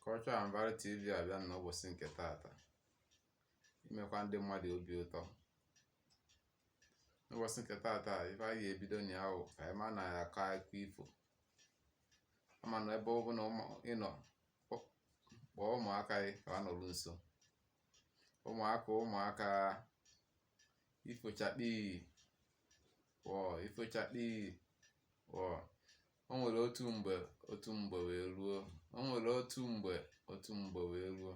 Culture and Value TV abịa n'ụbọsị nke taata imekwa ndị mmadụ obi ụtọ n'ụbọsị nke taata ife anyị ga-ebido na ya wụ ka anyị ma na ya akọ akụkọ ifo ama na ebe ọ bụna ị nọ kpọọ ụmụaka gị ka ha nọrụ nso ụmụaka ụmụaka ifo chakpii wọọ ifo chakpii wọọ o nwere otu mgbe otu mgbe wee ruo o nwere otu mgbe otu mgbe wee ruo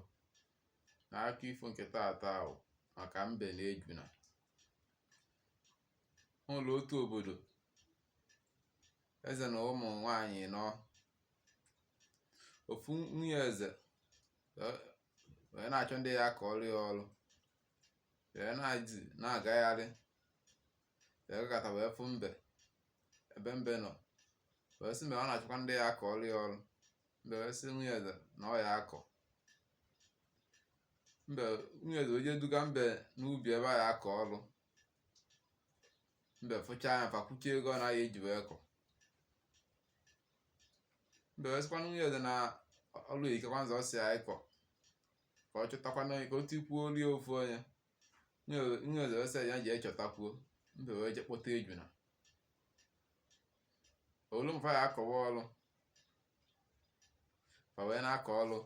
na akụkọ ifo nke taata wụ maka mbe na ejuna o nwere otu obodo eze na ụmụ nwanyị nọ ofu nwunye eze wee na-achọ ndị ya-akọrọ ya ọrụ wee na-adị na-agagharị wee gata wee fụ mbe ebe mbe nọ wee sị mbe ọ na-achọkwa ndị ya-akọrọ ya ọrụ mbe wee sị nwunye eze na ọ ya-akọ mbe nwunye eze wee jee duga mbe n'ubi ebe a ya-akọ ọrụ mbe fụchaa ya fa kwuchie ego one a ya-eji wee kọ mbe wee sịkwa nwunye eze na ọrụ ikekwa nzọ si ya ịkọ ka ọ chọtakwana onye ka o tikwuo oli ofu onye nwunye eze wee sị ya jee chọtakwuo mbe wee je kpọta ejuna o lu ma fa ya-akọwa ọrụ fa wee na-akọ ọrụ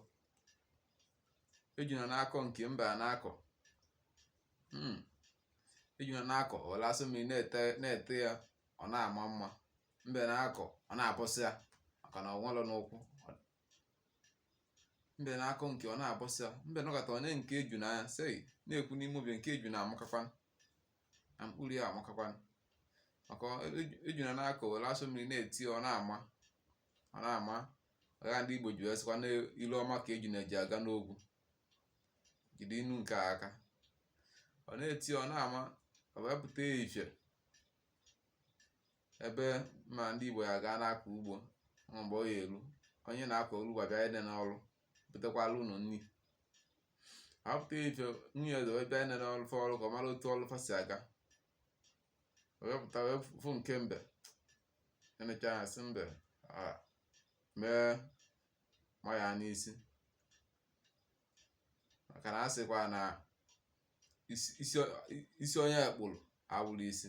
ejuna na-akọ nke mbe ana-akọ hmm. ejuna na-akọ were asụ mmiri na-ete ya ọ na-ama mma mbe na-akọ ọ na-abọsịa maka na o nwere n'ụkwụ mbe na-akọ nke ọ na-abọsịa mbe nọkata o nee nke ejuna anya sị na-ekwu n'ime obi nke ejuna amakakwa na mkpụrụ ya amakakwa maka ejuna na-akọ were asụ mmiri na-ete ọ na-ama ọ na-ama ọ ka ndị Igbo ji wee sịkwa na ile ọma ka ejuna ji aga n'ogwu jide inu nke a aka ọ na-ete ọ na-ama ọ wee pụta ifie ebe ma ndị Igbo ya gaa na-akọ ugbo ma mgbe ọ ya-eru onye a na-akọrọ ugbo abịa inene ọrụ butekwalụ ụnụ nri apụta ifie nwunye eze wee bịa inene ọrụ fa rụrụ ka ọ mara otu ọrụ fa si aga wee pụta wee fụ nke mbe enechaa ya sị mbe "Ah, mee ma ya n'isi maka na a sịkwa na isi- isi- isi onye e kpụrụ awụrụ isi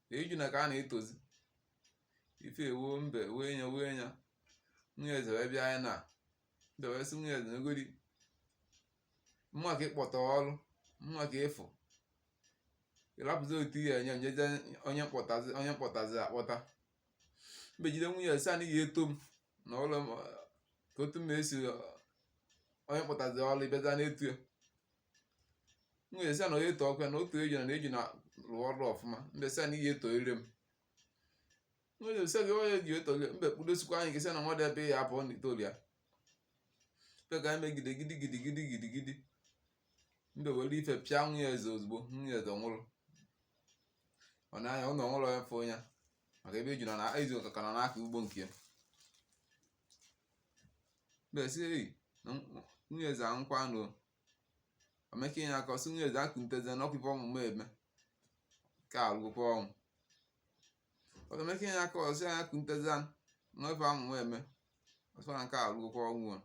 na ejuna ka a na-etozi ife ewuo mbe wee nya wee nya nwunye eze wee bịa nya na mbe wee sị nwunye eze na egodi mma ka ị kpọta ọrụ mma ka ị fụ ị rapụzi otu ihe enye nyeje onye m kpọtazi onye m kpọtazi akpọta mbe jide nwunye eze sị na ị ga-eto m na ụlọ m ka otu m esi onye m kpọtazi ọrụ ị bịaza na-eto ya nwunye eze sị ya na onye tọọ ọkwa na otu ejuna ejuna rụọ ọrụ ọfụma mbe sị ya na ị ya-etoriri m nwunye eze sị gị onye ji etoriri mbe kpudosikwa nya ike sị na nwa dị ebe ọ ya-apụ na ị torọ ya mbe ka anyị megide gidi gidi gidi gidi gidi mbe were ife pịa nwunye eze ozugbo nwunye eze nwụrụ ọ na nya nwụrụ o nwerọ onye fụ ya maka ebe ejuna eziokwu ka nọ n'aka ugbo nke ya mbe sị eyi na nwunye eze anwụkwa nụ o meke ya aka ọ sị nwunye eze kuntezi na ọ bụ ife ọmụmụ eme ka awụrụgokwa ọnwụ o meke ya aka ọ sị ya kuntezi na ọ bụ ife ọmụmụ eme ọsọ na nke a awụrụgokwa ọnwụ a.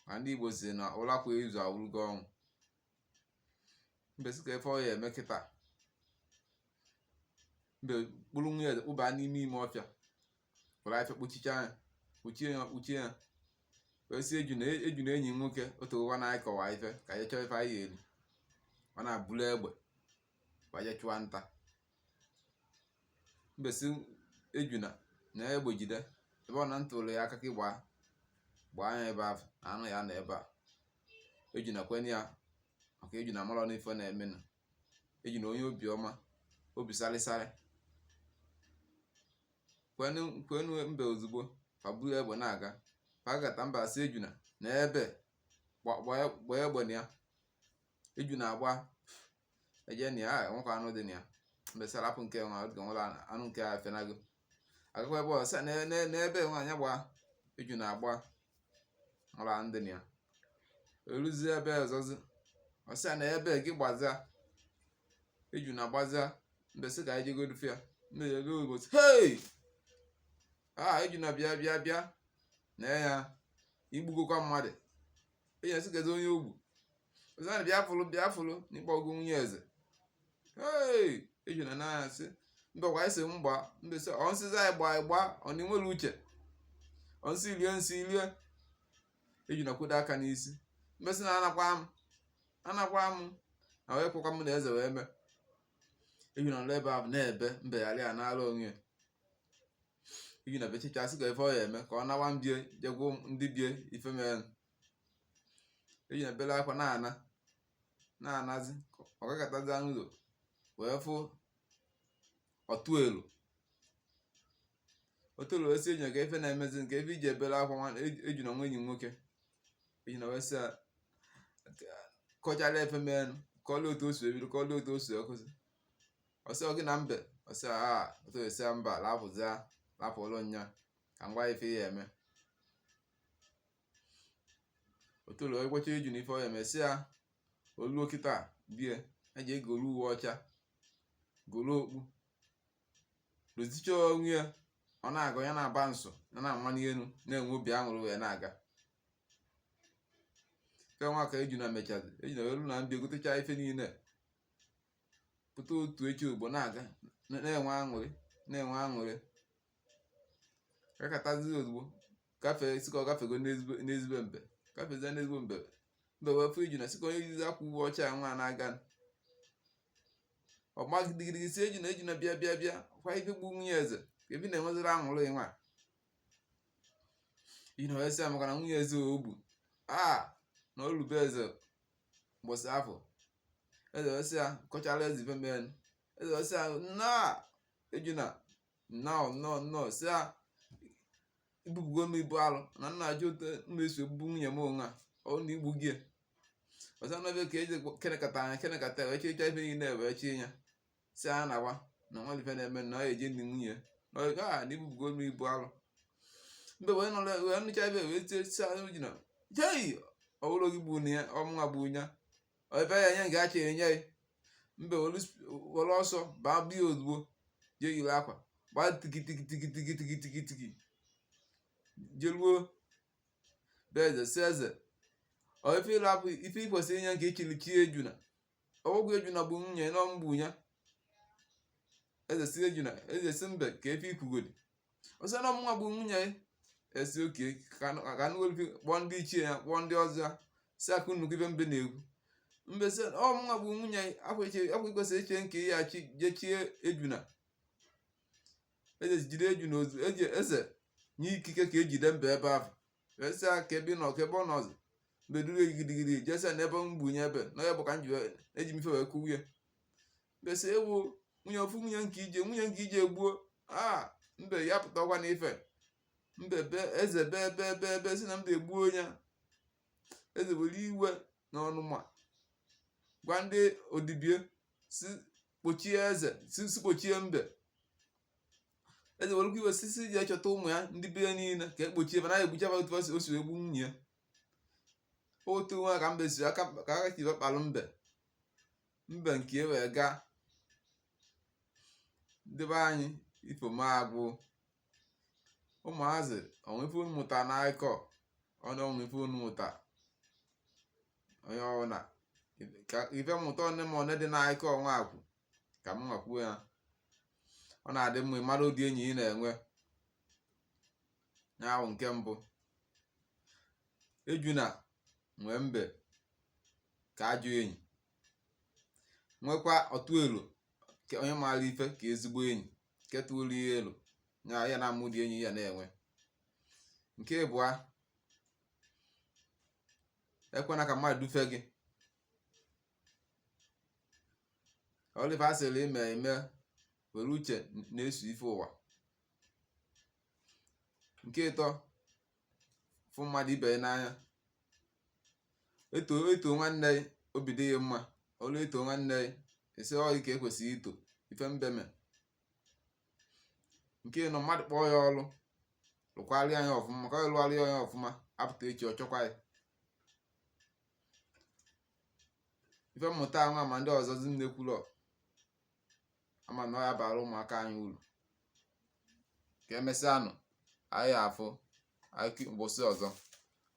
ma ndị igbo si na ụla kwa izu awụrụgo ọnwụ mbe sị ka ife ọ ya eme kịta mbe kpụrụ nwunye eze kpụba n'ime ime ọfịa were afịfịa kpuchicha ya kpuchie ya kpuchie ya wee sị ejuna ejuna enyi m nwoke o tegokwa na anyị kọwa ife ka anyị chọọ ife anyị ga-eri ọ na-eburu egbe wee chụọ nta mbe sị ejuna naa egbe jide ebe ọbụna m tụrụ ya aka ka ị gba gbaa ya ebe ahụ na anụ ya-anọ ebe a ejuna kwenye ya maka ejuna amarọ ife na-eme na ejuna onye obiọma obi sarịsarị kwelu mbe ozugbo fa buru egbe na-aga fa gata mbe sị ejuna nee ebe a gbaa egbe na ya ejuna agba eje na ya enwekwa anụ dị na ya mbe sị rapụ nke nwa ọ dịka nwere anụ nke a fenago agakwa ebe ọ sị nee ebe nwa nya gba ejuna agba mara ndị na ya eruzi ebe ọzọzi ọ sị nee ebe gị gbaza ejuna agbaza mbe sị ka anyị jegodu fụ ya mbe ruo ebe ọ bụ sị hei a ejuna bịa bịa bịa nee ya ị gbugokwa mmadụ ejuna sị kedu onye o gbu Ọ sị nya bịa fụlụ bịa fụlụ na ị gbagbu nwunye eze hey ejuna na asị mbe kwa ị sị m gba mbe sị ọ m sịza gị gba gị gba ọ na ị nwerọ uche ọ m sị rie nsị ị rie ejuna kwụdo aka n'isi mbe sị na anakwa m anakwa m na wee kwụkwa m na eze wee mee ejuna nọrọ ebe ahụ na-ebe mbe ghara ya nara onwe ya ejuna bechicha sị ka ife ọ ya eme ka ọ nawa na bie je gwa ndị bie ife mere ejuna bele akwa na-ana na-anazi ọ gakatazi n'ụlọ wee fụ otolo otolo wee sị enyi ya kee ife na-emezi kee ife i ji ebele akwa nwa ejuna nwa enyi m nwoke ejuna wee sị ya kọchara ife menụ kọọla otu o si ebido kọọla otu o si akwụsị ọ sị ọ gị na mbe ọ sị a otu esi mba lapụzia lapụlụ nya ka m gwa ị ife ị ya-eme otolo agwacha ejuna ife ọ ya-eme sị ya o luo kịta bịa jee golu uwe ọcha golu okpu dozicha onwe ya ọ na-aga ya na-aba nso ya na-amani elu na-enwe obi aṅụrị wee na-aga nke nwa ka ejuna mechazi ejuna eluo n'afịa gotecha ife niile pụta otu echi ugbo na-aga na-enwe aṅụrị na-enwe aṅụrị gakatazi ozugbo gafee sị ka ọ gafego n'ezi be n'ezi be mbe gafezie n'ezi be mbe mbe wee fụ ejuna sị kee onye yizi akwa uwe ọcha a nwa na-aga ọ gbaa gidigidi sị ejuna ejuna bịa bịa bịa kwa ife gbu nwunye eze kee ife ị na-enweziri aṅụrị nwa ejuna wee sị ya maka na nwunye eze o gbu a na o lu be eze mbọsị afụ eze wee sị ya kọchara eze ife mee eze wee sị ya nna ejuna nnọọ nnọọ nnọọ sị a i bupụgo m ibu alọ na m na-achọ otu m esi egbu nwunye m onwe a ọ na i gbugo ya. ọzọ n'ebe ka e ji kenekata nya kenekata wee chịcha ife niile wee chi ya sị a na-agwa na nwa ife na-eme na ọ ya-eje ni nwunye ya. na ọ kwa na i bupụgo m ibu alọ mbe wee nọrọ wee nụcha ife wee tie sị ejuna jei ọ bụrọ gị gbu nya ọ mụnwa gbu ya ebe ya nye ga-acha enye ya mbe were ọsọ gbaa bịa ozugbo jee yiri akwa gbaa tikitikitikitikitikitikitiki jeruo be eze sị eze ọ ife ị rapụ ife ị kwesịrị inye nke i chiri chi ejuna ọ bụghị ejuna gbu nwunye na ọ m gbu ya eze sị ejuna eze sị mbe kee ife i kwugodi ọ sị na ọ mụnwa gbu nwunye ya eze sị oke ka a nụ- ka a nụgolu kpọọ ndị ichie ya kpọọ ndị ọzọ ya sị ka unu nụkwu ife mbe na-ekwu mbe sị ọ mụnwa gbu nwunye ya ọ kwa ichi- ọ kwa i kwesị ichi nke ya chi jechie ejuna eze jide ejuna ozu eje eze nye ikike ka e jide mbe ebe ahụ e sị a kee ebe ị nọ kee ebe ọ nọzi mbe duru ya gidigidi je sị nee ebe m gbunye ebe na ya bụ ka m ji wee- eji m ife wee kụwie mbe si ewu nwunye ofu nwunye nke ije nwunye nke ije gbuo a mbe ya pụtakwa na ife mbe be eze be be be be sị na mbe egbuo ya eze were iwe na ọnụma gwa ndị odibo ya sị kpọchie eze sị sị kpọchie mbe eze were iwe sị sị jee chọta ụmụ ya ndị be ya niile ka a kpọchie mana ya egbucha otu o si egbu nwunye ya otu nwa ka mbe si aka ka aka si kpalụ mbe mbe nke e wee gaa ndị be anyị ifo m agwụ ụmụazị o nwee ife unu mụta na akụkọ ọnụ o nwee ife unu mụta onye ọbụla kaa ife mmụta one ma one dị na akụkọ nwa akwụ ka m nwaa kwuo ya ọ na-adị mma ịmara ụdị enyi ị na-enwe ya wụ nke mbụ ejuna nwee mbe ka ajọ enyi nwekwa ọtụ elo ke onye maara ife ka ezigbo enyi nke tụrụ ya elo na ya na-ama ụdị enyi ya na-enwe nke ịbụa ekwena ka mmadụ dufe gị Oliver sịrị ime eme were uche na-eso ife ụwa nke ịtọ fụ mmadụ ibe ya n'anya e too e too nwanne ya obi dị ya mma ọrụ e too nwanne ya esi ọyị ka ekwesịghị ito ife mbe me nke ịnọ mmadụ kpọọ ya ọrụ lụkwarịa ya ọfụma maka ọ lụgharịa ya ọfụma a pụta echi ọ chọkwa ya ife mmụta nwa ma ndị ọzọzi m na-ekwulọ ama na ọ ya-abara ụmụaka anyị uru ka emesịanụ anyị afụ mbọsị ọzọ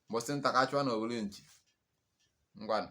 mbọsị nta ka a chụwa na owere nchi ngwanụ